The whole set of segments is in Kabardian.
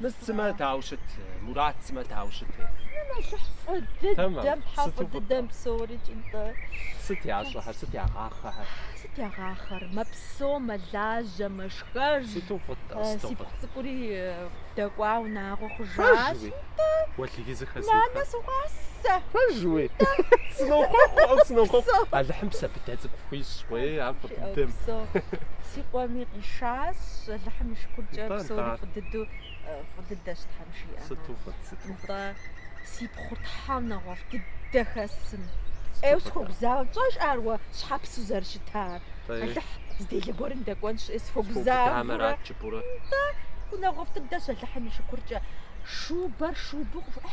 Мы сымэ дау щыт, Мурат сымэ дау щыт. Алыхь фӏы дыдэм тхьэ фӏы дыдэм псори икӏи тӏэ. Сыт ящӏэхэр, сыт ягъахъэхэр? Сыт ягъахъэр? Мэпсо, мэлажьэ, мэшхэж. Сыту фӏыт, сыту фӏыт. Си пхъу цӏыкӏури дэкӏуа унагъуэ хъужащ. Уэлий зэхэсха. Нанэ сыгъуасэ. Пэжуи. Сынохъуэхъу, сынохъуэхъу. Алыхьым псэ быдэ цӏыкӏу пхуищӏ, уей, ар фӏы дыдэм. Си къуэми къишащ, Алыхьым и шыкуркӏэ псори фӏы дыдэу фӏы дыдэщ Тхьэм жиӏэ. Сыту фӏы, сыту фӏы. Си пхъур Тхьэ унагъуэфӏ дыдэ хэсым. Ӏейу сыхуэгузавэ, пщӏэж ар уэ щхьэпсу зэрыщытар. Алыхь зы делэ гуэрым дэкӏуэнщ, сыхуэгузавэ. Къурэ. Нэ, унагъуэфӏ дыдэщ Алыхьым и шыкуркӏэ, шубэр шубу къыф...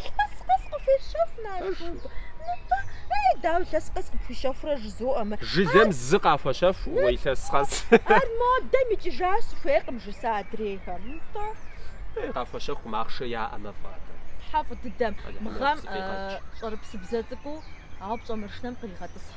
Илъэс къэс къыфуещэф, на шуб. Нытӏэ, ей, дау илъэс къэс къыпхуищэфурэ жызоӏэ мы. Иджы зэм зы къахуэщэф, уэ илъэс къэс. Ар модэм икӏыжащ, сыхуейкъым жысӏэ адрейхэм. Нытӏэ. Ей, къахуэщэхум, ахъшэ яӏэмэ фӏы атӏэ. Тхьэ фӏы дыдэм, мы гъэм щӏэрыпсыбзэ цӏыкӏуу, ауэ пщӏэ маршынэм къригъэтӏысхьэ.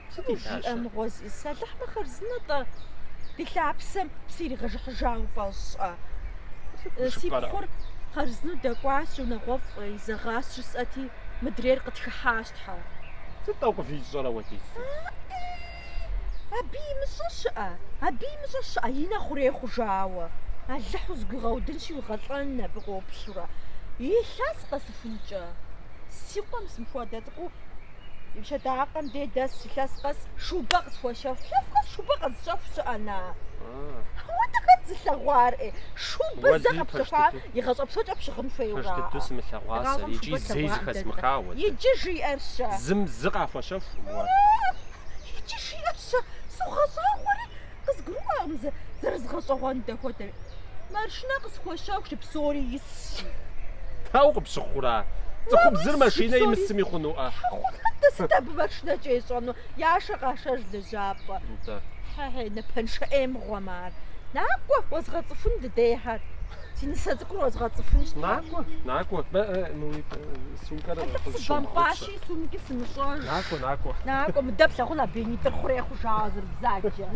Сыт Уи илъащэр? жиӏэ мыгъуэ зи сэлыхьмэ хъарзынэ-тӏэ? Ди лъапсэм псиригъэжыхьыжауэ фӏэщӏэ? Сыт Э, Си гушыӏэрэ? пхъур хъарзынэу дэкӏуащ, унагъуэфӏ изэгъащ жысӏэти, мыдрейр къытхыхьащ Тхьэ. Сыт тӏэ къывищӏэр апхуэдизу? Абы имыщӏэ щыӏэ? Абы имыщӏэ щыӏэ, и нэ хъурей хъужауэ. Алыхь узгуигъэудынщи, уигъэлӏэн абы къоплъурэ. Илъэс къэсыхункӏэ. Си къуэм зы мыхуэдэ цӏыкӏуу И пщэдакъэм дей дэс илъэс къэс шубэ къысхуэщэху. Илъэс къэс шубэ къэзыщэху щыӏэ на? Ауэ дэ хэт зылъэгъуар? Э, шубэ зэ къэпщэхуа пэж дыдэ. игъащӏэ псокӏэ пщыгъын хуейуэ. Пэж дыдэу жаӏэ. сымылъэгъуа сэ Гъавэм икӏи шубэ зэи слъэгъуа зэхэзмыха уэ дэ. Иджы жиӏэр-щэ? Зым зы къахуэщэхум уэ. Иджы жиӏэр-щэ? Согъэщӏагъуэри, Къызгурыӏуакъым сэ, зэрызгъэщӏэгъуэн дэ хуэдэми. Маршынэ къысхуэщэху жи, псори исщ. Дау къыпщыхъура? Цӏыхубзыр машинэ имысми хъунуӏэ? Хъунэ, дэ сыт абы маршынэкӏэ ищӏэну? Яшэ къашэж лэжьапӏэ. Нтӏэ. Хьэ-хьей, напэншэ ӏей мыгъуэм ар. Накӏуэ, уэзгъэцӏыхун дыдейхэр. Си нысэ цӏыкӏур уэзгъэцӏыхунщ. Накӏуэ, накӏуэ. Бэ, э, мы уи э, сумкӏэр Хьэлъэпсыбэмпӏащ. къызыщумыгъэгъупщэ. Икӏи сумкӏи сымыщӏэж. Накӏуэ, накӏуэ. Накӏуэ, мыдэ плъагъун абы и нитӏыр хъурей хъужауэ зэрыбзаджэр.